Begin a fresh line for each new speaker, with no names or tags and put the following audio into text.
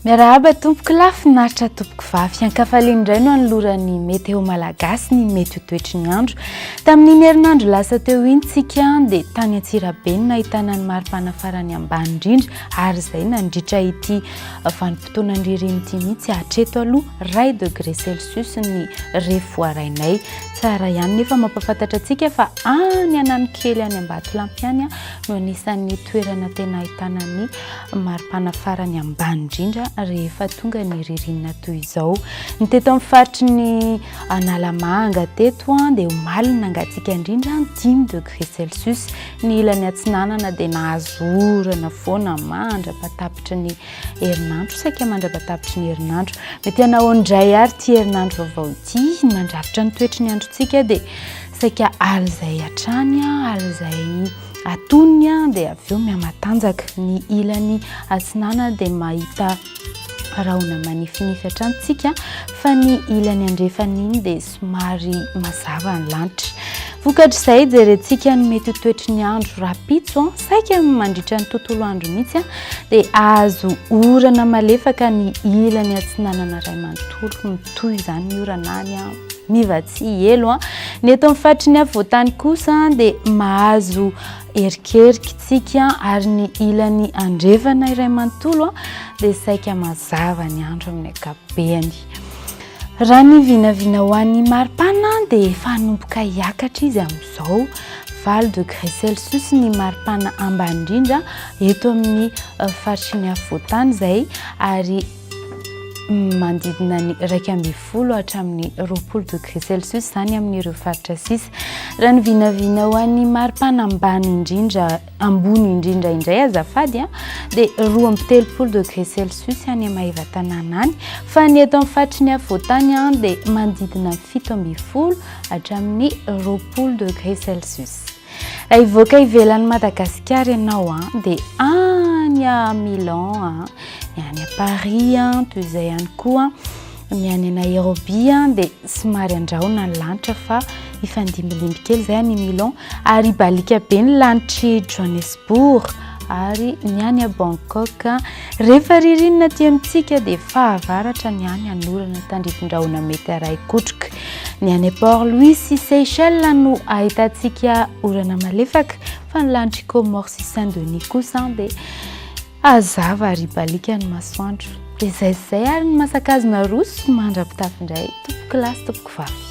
Miarahaba tompoko lahy, finaritra tompoko vavy. Hankafaliana indray no anoloran'ny Météo Malagasy ny mety ho toetry ny andro. Tamin'iny herinandro lasa teo iny tsika dia tany Antsirabe no nahitana ny maripana farany ambany indrindra ary izay nandritra ity vanim-potoanan'ny ririny ity mihitsy hatreto aloha iray degré celsius ny ref voarainay. Tsara ihany nefa mampafantatra antsika fa any ananokely any Ambatolampy any no anisan'ny toerana tena ahitana ny mari-panafarany ambany indrindra rehefa tonga ny ririnina toy izao. Ny teto amin'ny faritry ny Analamanga teto dia omaly nangatsiaka indrindra dimy degré Celsius. Ny ilany atsinanana dia nahazo orana foana mandra-patapitry ny herinandro, saika mandra-patapitry ny herinandro. Mety hanao indray ary ity herinandro vaovao ity, mandrafitra ny toetry ny androntsika dia Saika alin'izay hatrany, alin'izay atonony dia avy eo mihamatanjaka. Ny ilany atsinanana dia mahita rahona manifinify hatrany isika fa ny ilany andrefana iny dia somary mazava ny lanitra. Vokatr'izay jerentsika ny mety ho toetry ny andro rahampitso, saika mandritra ny tontolo andro mihitsy dia azo orana malefaka ny ilany atsinanana iray manontolo, mitohy izany ny orana any. Miva tsy elo an! Ny eto amin'ny faritry ny afovoantany kosa dia mahazo erikerika isika ary ny ilany andrefana iray manontolo dia saika mazava ny andro amin'ny ankapobeny. Raha ny vinavina ho an'ny maripana dia efa hanomboka hiakatra izy amin'izao. Valo degré Celsius ny maripana ambany indrindra eto amin'ny faritry ny afovoantany izay ary manodidina ny iraika ambin'ny folo hatramin'ny roapolo degré celsius izany amin'ireo faritra sisa raha ny vinavina ho an'ny maripana ambany indrindra ambony indrindra indray azafady a dia roa amby telopolo degré celsius any amaheva tanàna any fa ny eto amin'ny faritry ny afovoantany a dia manodidina fito ambin'ny folo hatramin'ny roapolo degré celsius Hivoaka ivelan'i Madagasikara ianao an, dia any à Milan an, ny any à Paris an, toy izay ihany koa ny any à Nairobi an, dia somary andrahona ny lanitra fa hifandimbilimby kely izay any Milan ary hibaliaka be ny lanitr'i Johannesburg ary ny any à Bangkok an, rehefa ririnina aty amintsika dia fahavaratra ny any hanorana tandrifin-drahona mety haray kotroka. Ny any Port Louis sy Seychelles no ahitantsika orana malefaka fa ny lanitr'i Comores sy Saint Denis kosa dia hazava ary baliaka ny masoandro. Dia izay izay ary ny masakazo naroso mandra-pitafy indray tompoko lahy sy tompoko vavy.